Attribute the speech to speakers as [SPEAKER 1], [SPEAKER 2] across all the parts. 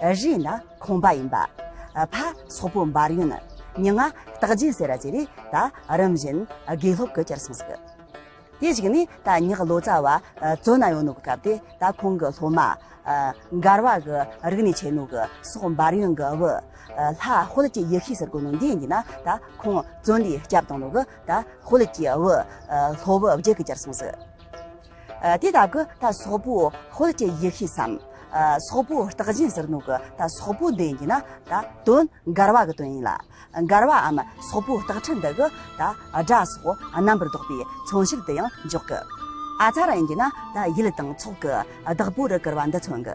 [SPEAKER 1] རེས་ན་ཁོང་པ་ཡིན་པ། ཕ་སོག་པོ་འབར་ཡོན། མྱི་ང་རྟག་རྗེན་ཟེ་ར་བྱེ་རེ་ད་རིམ་བཞིན་དགེ་སློབ་གི་ཅར་སོང་ཟིག། དེ་ཞིག་ནི་ད་མྱི་ལོ་ཙ་བ་བཙོ་ན་ཡོང་ནུ་གི་སྐབས་དེ་ད་ཁོང་གི་སློབ་མ། འགར་བ་གི་རིག་ནི་བྱེ་ནུ་གི་སོག་འབར་ཡོན་གི་བུ། ལྷ་ཧོལ་གྱི་ཡི་ཤི་ཟེར་གོ་ནུ་འདི་འདི་ན་ད་ཁོང་བཙོ་འདི་སྐྱབས་དང་ནུ་གི་ད་ཧོལ་གྱི་བུ། ལྷོ་བུ་བརྒྱད་གི་ཅར་སོང་ཟིག། དེ་དག་གི་ད་སོག་པོ་ཧོལ་གྱི་ཡེ་ཤེས་སམ། སོག་པོ་རྟགས་རྗེན་ཟེར་ནུ་གི་ད་སོག་པོ་འདི་ཡིན་ན་ད་དོན་མགར་བ་གི་དོན་ཡིན་ལ། མགར་བའམ་སོག་པོ་རྟགས་ཁྲི་འདི་གི་ད་སྒྲ་སོགས་རྣམ་པར་བཟློག་པའི་མཚོན་བྱེད་དུ་ཡང་འཇོག་གི། ཨ་ཚ་ར་ཡིན་གྱི་ན་ད་ཡུལ་དང་ཚོགས་ཀྱི་བདག་པོ་རུ་གྱུར་བ་འདི་མཚོན་གི།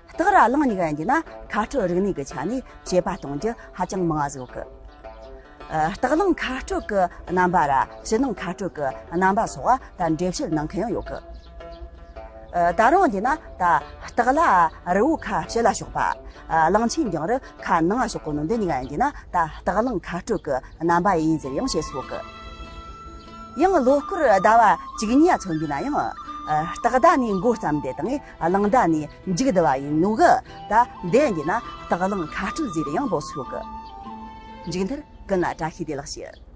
[SPEAKER 1] སྟག་ར་གླང་སྙིང་འདི་ན་ཁ་སྤྲོད་རིག་གནས་ཀྱི་ཆ་ནས་དཔྱད་པ་གཏོང་རྒྱུ་ཧ་ཅང་མང་བ་བཟོ་གི། སྟག་གླང་ཁ་སྤྲོད་ཀྱི་རྣམ་པ་ར་ཕྱི་ནང་ཁ་སྤྲོད་ཀྱི་རྣམ་པ་སོགས་ད་འགྲེལ་བཤད་གནང་མཁན་ཡང་ཡོད་གི། ད་རུང་འདི་ན་ད་སྟག་ལ་རི་བོའི་ཁ་ཕྱི་ལ་ཕྱོགས་པ། གླང་ཆེན་རྒྱང་རི་ཁ་ནང་ལ་ཕྱོགས་པ་ནོ་འདི་གཉིས་འདི་ན་ད་སྟག་གླང་ཁ་སྤྲོད་ཀྱི་རྣམ་པ་ཡིན་ཟེར་ཡང་བྱེད་སོ་གི། ཡང་ལོ་སྐོར་ཟླ་བ་གཅིག་གཉིས་ཚོད་འདི་ན་ཡང་སྟག་ཟླ་ནས་མགོ་བརྩམས་ཏེ་དང་གླང་སྒྲ་ནི་འཇིག་བདེ་བ་ཡིན་ནོ་གི། ད་འདས་འདི་ན་དག་གླང་ཁ་སྤྲུལ་ཟེར་ཡང་བོགས་སུ་ཤོག་གི། འཇིག་མཐར་ཀུན་ལ་བཀྲ་ཤིས་བདེ་ལགས་ཞུ།